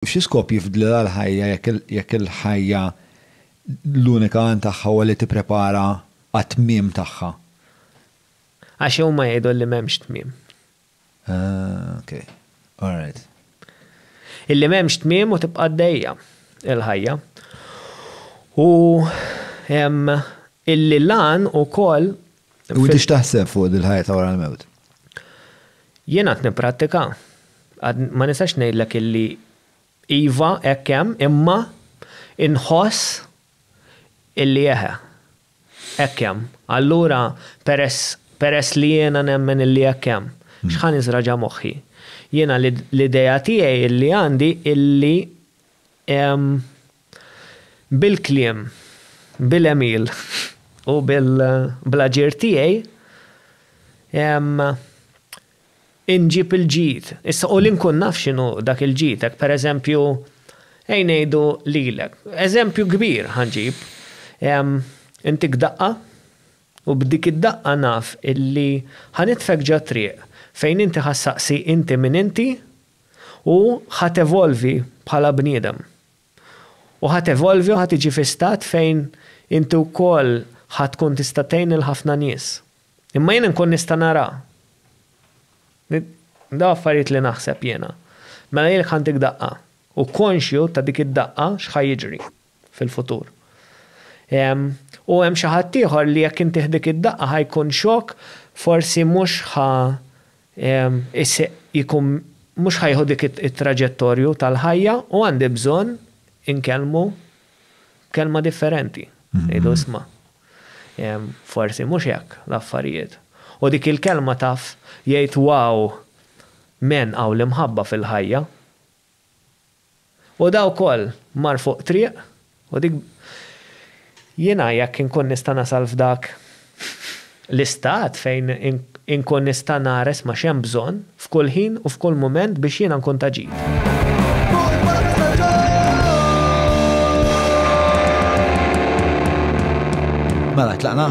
Xi skop jifdlilha l-ħajja jekk il-ħajja l-unika għan tagħha huwa li tipprepara għat-tmiem tagħha? Għax huma jgħidu li m'hemmx tmiem. Ah, ok. All right. Illi m'hemmx tmiem u tibqa' għaddejja l-ħajja. U illi l-għan ukoll U inti x'taħseb fuq dil-ħajja ta' wara l-mewt? Jien għad nipprattika. Ma nistax ngħidlek illi iva hekk hemm imma inħoss illi eħe. Hekk hemm. Allura peress peress li jiena nemmen illi hekk hemm, x'ħa niżra' ġa moħħi? Jiena l-idea tiegħi illi għandi illi Bil-kliem, bil-għemil u bl-aġir tiegħi inġib il-ġid. Issa, u li nkun naf x'inhu dak il-ġid, hekk pereżempju, ejn ngħidu lilek, eżempju kbir ħa nġib, intik daqqa u b'dik id-daqqa naf illi ħa nitfgħek ġo t-triq fejn inti ħa ssaqsi inti min inti u ħa tevolvi bħala bniedem. U ħa tevolvi u ħa tiġi fi stat fejn inti wkoll ħa tkun tista' tgħin lil ħafna nies. Imma jien inkun nista' nara. Dawn affarijiet li naħseb jiena. Mela jilek ħantik daqqa. U konxju ta' dik id-daqqa x'ħa jiġri fil-futur. U hemm xi ħaddieħor li jekk intih dik id-daqqa ħa jkun xokk, forsi mhux ħa Is-sieq jkun mhux ħa jieħu dik it-traġettorju tal-ħajja u għandi bżonn inkellmu b'kelma differenti. Ngħidu isma', forsi mhux hekk l-affarijiet. U dik il-kelma taf jgħid wow m'hen hawn l-imħabba fil-ħajja. U da wkoll mar fuq triq, u dik Jiena jekk inkun nista' nasal f'dak l-istat fejn inkun nista' nares ma' x'hemm bżonn f'kull ħin u f'kull mument biex jiena nkun ta' ġid. Mela, tlaqna?